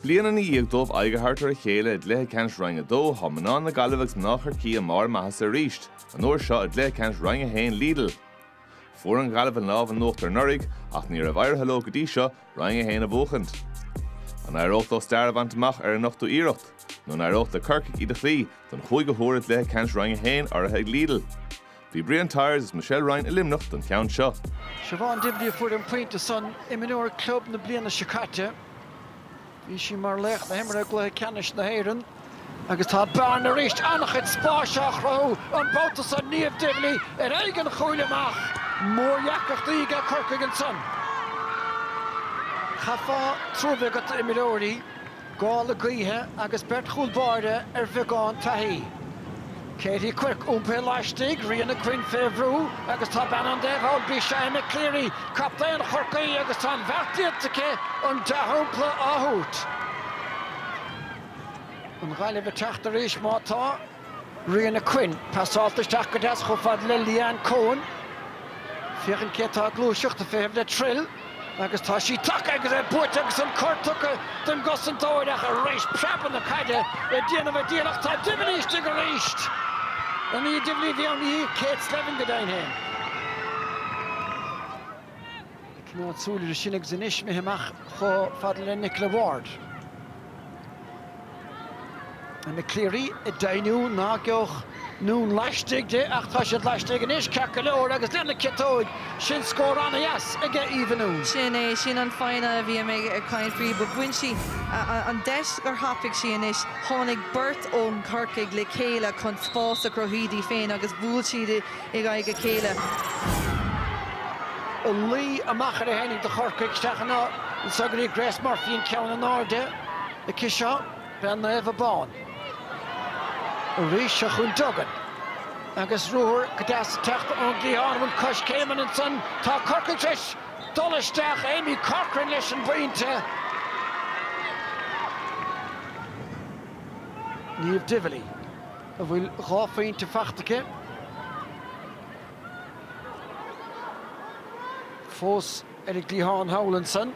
Bliain i ndiaidh dóibh aghaidh a thabhairt ar a chéile i gcluiche ceannais Roinn 2, tá mná na Gaillimhe agus mná Chorcaí i mbarr a maitheasa arís, an uair seo i gcluiche ceannais Roinn 1 Lidl. Fuair an Ghaillimh an lámh in uachtar anuraidh ach ní raibh éirithe leo go dtí seo Roinn 1 a bhuachaint. An éireodh leo stair a bhaint amach ar an ochtú iarracht? Nó an éireodh le Corcaigh iad a chloí don chúigiú huair i gcluiche ceannais Roinn 1, urraithe ag Lidl? Bhí Brian Tyers agus Michelle Ryan i Luimneach don cheann seo. Siobhán Divilly a fuair an pointe san imreoir club na bliana seo caite. Bhí sí mar laoch na himeartha i gcluiche ceannais na hÉireann. Agus tá bearna arís, an-chuid spáis á chruthú an babhta seo, Niamh Divilly ar aghaidh an chúil amach. Mórdheacrachtaí aige Corcaigh ansan. Chaithfeá trua bheith agat d'imreoirí. Gála gaoithe agus beirt chúl báire ar bheagán taithí. Katie Quirke, iompaithe laistigh, Ríona Quinn, fé bhrú, agus tá bean an taobh thall, b'í sin, Emma Cleary, captaen Chorcaí, agus tá an beart déanta aici, an dea-shampla á thabhairt. An Ghaillimh ag teacht arís? Má tá. Ríona Quinn, pasálta isteach go deas chomh fada le Leanne Coen, féachaint cé atá ag gluaiseacht, ag feitheamh le Trill agus tá sí tagtha agus é buaite agus an cor tugtha don gcosantóir ach arís preabadh na caide ag déanamh an diabhail ach tá Divilly istigh arís an í Divilly a bhí ann í Kate Slevin go deimhin féin. Ag coinneáil súil air sin agus anois imithe amach chomh fada le Nicola Ward. Emma Cleary ag deimhniú ná geobhadh Noone laistigh di ach tá siad laistigh anois ceart go leor agus lena ciotóig sin scór an-deas aige Eva Noone. Sin é, sin an fhoighne a bhí mé ag caint faoi. Bhain sí an deis gur thapaigh sí anois. Tháinig beirt ó Chorcaigh le chéile chun spás a chruthú di féin agus bhuail siad i. in aghaidh a chéile. An laí amach ar a tháinig do Chorcaigh isteach in áit na Sugairí, Grace Murphy an ceann in airde aici seo, bean Naomh Abán. Arís seo chun Duggan agus ruathar go deas ag teacht ón gcliathán, an coiscéim ansan, tá Corcaigh tar éis dul isteach, Amy Corcoran leis an bpointe. Niamh Divilly. a bhfuil dhá phointe faighte aici fós ar an gcliathán thall ansan,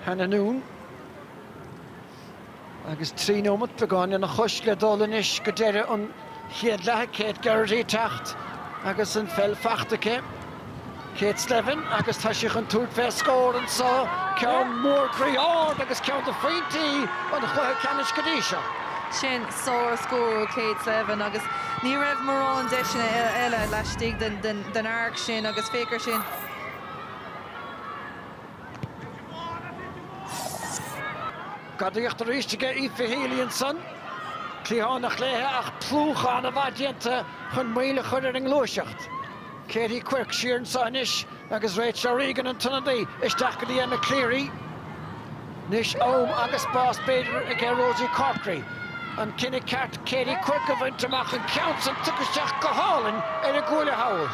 Hannah Noone, agus trí nóimeat beagán lena chois le dul anois go deireadh an chéad leatha, Kate Geraghty ag teacht agus an pheil faighte aici. Kate Slevin agus tá sí chun tabhairt fé scór anseo, ceann mór groí ard agus ceann de phointí an chluiche ceannais go dtí seo. Sin sár-scór ó Kate Slevin agus ní raibh mórán deiseanna eile laistigh den arc sin agus féach ar sin. Gadaíocht arís aige Aoife Healy ansan. Cliathánach léithe ach plúchadh ana-mhaith déanta chun moill a chur ar an ngluaiseacht. Katie Quirke siar anseo anois agus Rachel O'Regan, an t-ionadaí, isteach go dtí Emma Cleary. Anois am agus spás b'fhéidir aige Rosie Corkery an cinneadh ceart Katie Quirke a bhaint amach, an ceann san tugtha isteach go hálainn ar an gcuaille thall.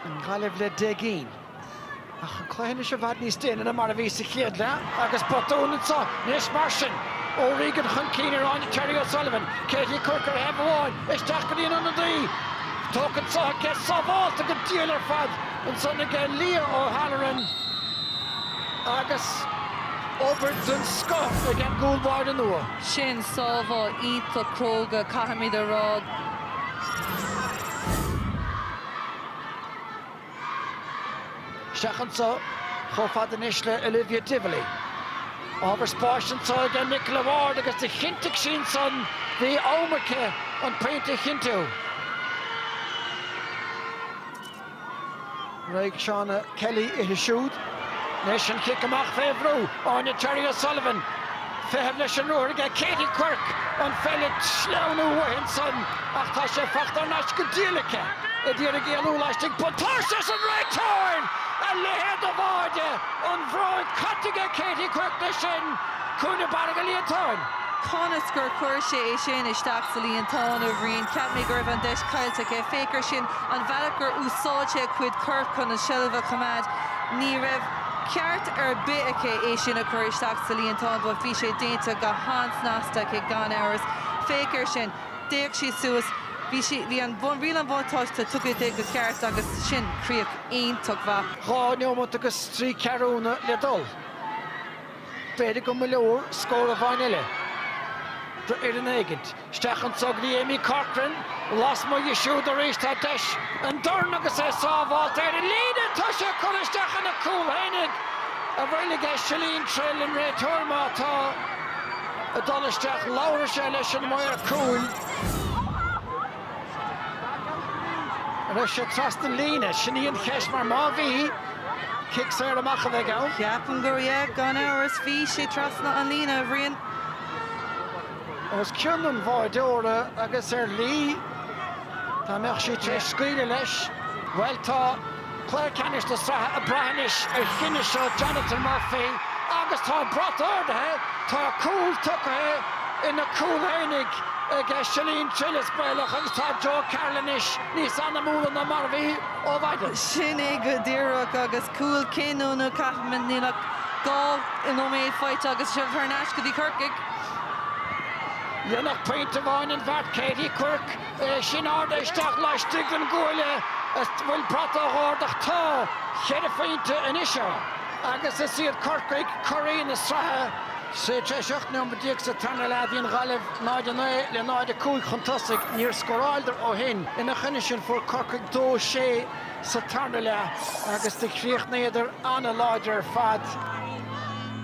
An Ghaillimh le deich gcinn. Ach an cluiche anois i bhfad níos déine ná mar a bhí sa chéad leath agus botún anseo anois mar sin. O'Regan chun cinn ar Áine Terry O'Sullivan, Katie Quirke ar thaobh amháin, isteach go dtí an ionadaí. Tógtha anseo aici, sábháilte go diail ar fad ansan aige Leah O'Halloran agus obair den scoth ag an gcúl báire nua. Sin sábháil iontach cróga, caithfimid a rá. Isteach anso, chomh fada anois le Olivia Divilly. Ábhar spáis anso aige Nicola Ward agus do chinntigh sí ansan, bhí am aici an pointe a chinntiú. Raghaidh Shauna Kelly uirthi siúd. Anois an chic amach fé bhrú, Áine Terry O'Sullivan. Feitheamh leis an ruathar aige Katie Quirke an pheil a shleamhnú uaithi ansan ach tá sé fachta thar n-ais go diail aici a d'iarraidh éalú laistigh. Buntáiste arsa an réiteoir! A leithéid de bháide an bhróig caite aige Katie Quirke leis sin, cúinne barra go líontán. Conas gur chuir sé é sin isteach sa líontán, a Bhriain? Cheap mé go raibh an deis caillte aici. Féach ar sin, an bhealach gur úsáid sé a cuid coirp chun an tseilbh a choimeád. Ní raibh. ceart ar bith aici é sin a chur isteach sa líontán, bhuel, bhí sé déanta go han-snasta aici, gan amhras. Féach ar sin. D'fhéach sí suas. Bhí sí, bhí an, riail an bhuntáiste tugtha di go ceart agus sin críoch iontach mhaith. Dhá neomat agus trí ceathrúna le dul. B'fhéidir go mba leor scór amháin eile d'fhoireann éigint. Isteach anso go dtí Aimee Corcoran. Lasmuigh di siúd arís tá deis an dorn agus é sábháilte ar an líne. Tá sé curtha isteach ina chúl féin ag an bhfeighlí aige Chellene Trill, an réiteoir, má tá ag dul isteach labharfaidh sé leis an maor cúil. An raibh sé trasna an líne? Sin í an cheist mar má bhí, cic saor amach a bheidh ann. Ceapaim gur yeah, gan amhras bhí sé trasna an líne, a Bhriain. os cionn an bháideora agus ar Lee. Dá mbeadh sí tar éis scaoileadh leis, bhuel tá cluiche ceannais na sraithe ag brath anois ar chinneadh seo Jonathan Murphy agus tá an brat ardaithe, tá cúl tugtha ina cúl oinigh ag Síle Ní Choill is baolach agus tá Joe Carroll anois níos anamúla ná mar a bhí ó mhaidin. Sin é go díreach agus cúl cinniúnach, caithim a rá, níl ach dhá nóiméad fágtha agus seo thar n-ais go dtí Corcaigh. Dhéanfadh pointe amháin an bheart Katie Quirke, é sin ardaithe isteach laistigh den gcuaille an bhfuil brat á ardach? Tá cheithre phointe anois ann agus is iad Corcaigh curaí na sraithe, Sea, tar éis ocht nóiméad déag sa tarna leath, bhí an Ghaillimh 0-9 le 0-5 chun tosaigh. Níor scóráladar ó shin. Ina choinne sin, fuair Corcaigh dó sé sa tarna leath agus do chríochnaíodar an-láidir ar fad.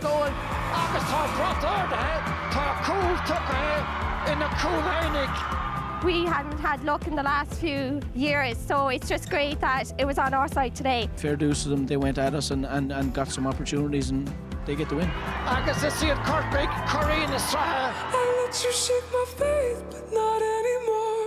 dóibh agus tá brat ardaithe, tá cúl tugtha ina cúl aonaigh. we hadn't had luck in the last few years so it's just great that it was on our side today. fair dues to them, they went at us and and and got some opportunities and they get the win. Agus is iad Corcaigh curaí na sraithe. I let you shake my faith, but not anymore.